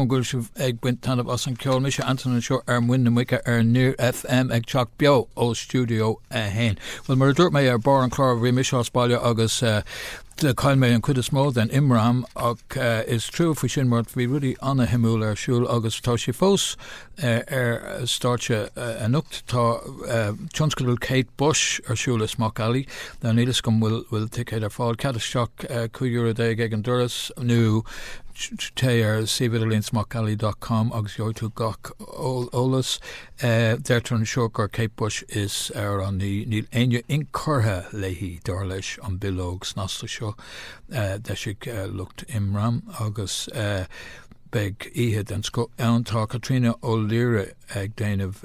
An bhfuil sibh ag baint taitneamh as an ceol? Mise Anton anseo ar Muin na Muice ar Near FM ag teacht beo ó Studio 1. Bhuel, mar a dúirt mé ar barr an chláir, bhí mise as baile agus do chaill mé an chuid is mó den imram ach is trua faoi sin mar bhí rudaí ana-shuimiúil ar siúl agus tá sé fós Ar stáitse anocht tá tionscadal Kate Bush ar siúl i Smock Alley. Níl fhios agam bhfuil ticéad ar fáil, cead isteach cúig euro déag ag an doras nó téigh ar suíomh idirlín smockalley dot com agus gheobhaidh tú gach eolas. Deirtear anseo gur Kate Bush is amhránaí, níl éinne inchurtha léi dar leis an bileog snasta seo. D'eisigh lucht imram agus. Beidh oíche den scoth ann. Tá Caitríona O'Leary ag déanamh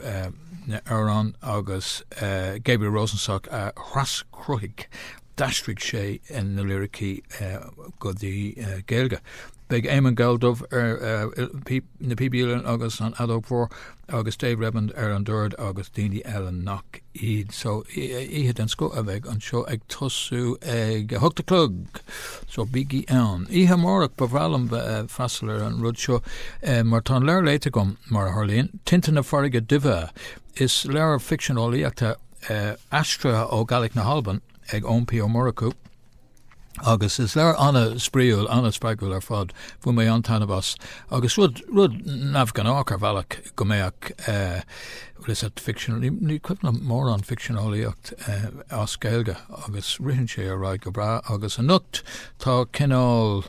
na n-amhrán agus Gabriel Rosenstock a thraschruthaigh, d'aistrigh sé na liricí go dtí Gaeilge. Beidh Éamonn Galldubh ar na píb uilleann agus an fheadóg mhór. agus Dave Redmond ar an dord agus daoine eile nach iad. So, oíche den scoth a bheidh anseo ag tosú ag a hocht a chlog! So, bígí ann. Oíche amárach, ba bhreá liom freastal ar an rud seo mar tá an leabhar léite agam, mar a tharlaíonn, Tinte na Farraige Duibhe. Is leabhar ficsean eolaíochta aistrithe ó Gaelic na hAlban ag Eoin P. Ó Murchú. Agus is leabhar ana-spraíúil, ana-spreagúil ar fad. Bhain mé an-taitneamh as. Agus rud, rud neamhghnách ar bhealach go mbeadh bhuel is at fiction, ní cuimhin liom mórán ficsean eolaíocht as Gaeilge agus ritheann sé ar aghaidh go breá agus anocht tá cineál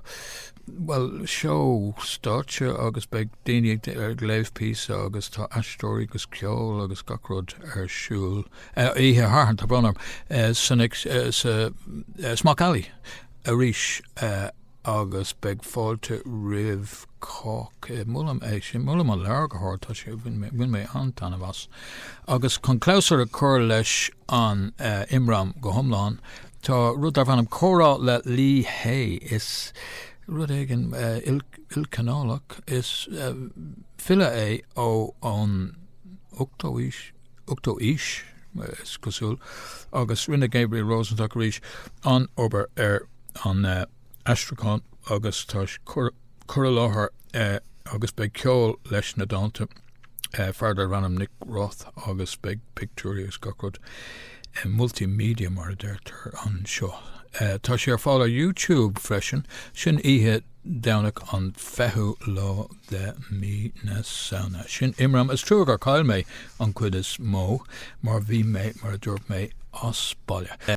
bhuel seó stáitse agus beidh daoine ag léamh píosa agus tá aisteoirí agus ceol agus gach rud ar siúl. oíche Shathairn, tá brón orm, sa Smock Alley arís agus beidh fáilte roimh chách. Molaim é sin, molaim an leabhar go hard, tá sé, bhain mé an-taitneamh as. Agus chun clabhsúr a chur leis an imram go hiomlán, tá rud darb ainm Comhrá le Lí Hè, is rud éigin ilchineálach, is file é ón 8ú haois, ochtú aois, is cosúil, agus rinne Gabriel Rosenstock arís an obair ar an aistriúchán agus tá cur i láthair agus beidh ceol leis na dánta fear darb ainm Nick Roth agus beidh pictiúirí agus gach rud multimedia mar a deirtear anseo. Tá sé ar fáil ar YouTube freisin. Sin oíche Domhnach an fichiú lá de mí na Samhna. Sin imram. Is trua gur chaill mé an chuid is mó mar bhí mé, mar a dúirt mé, as baile.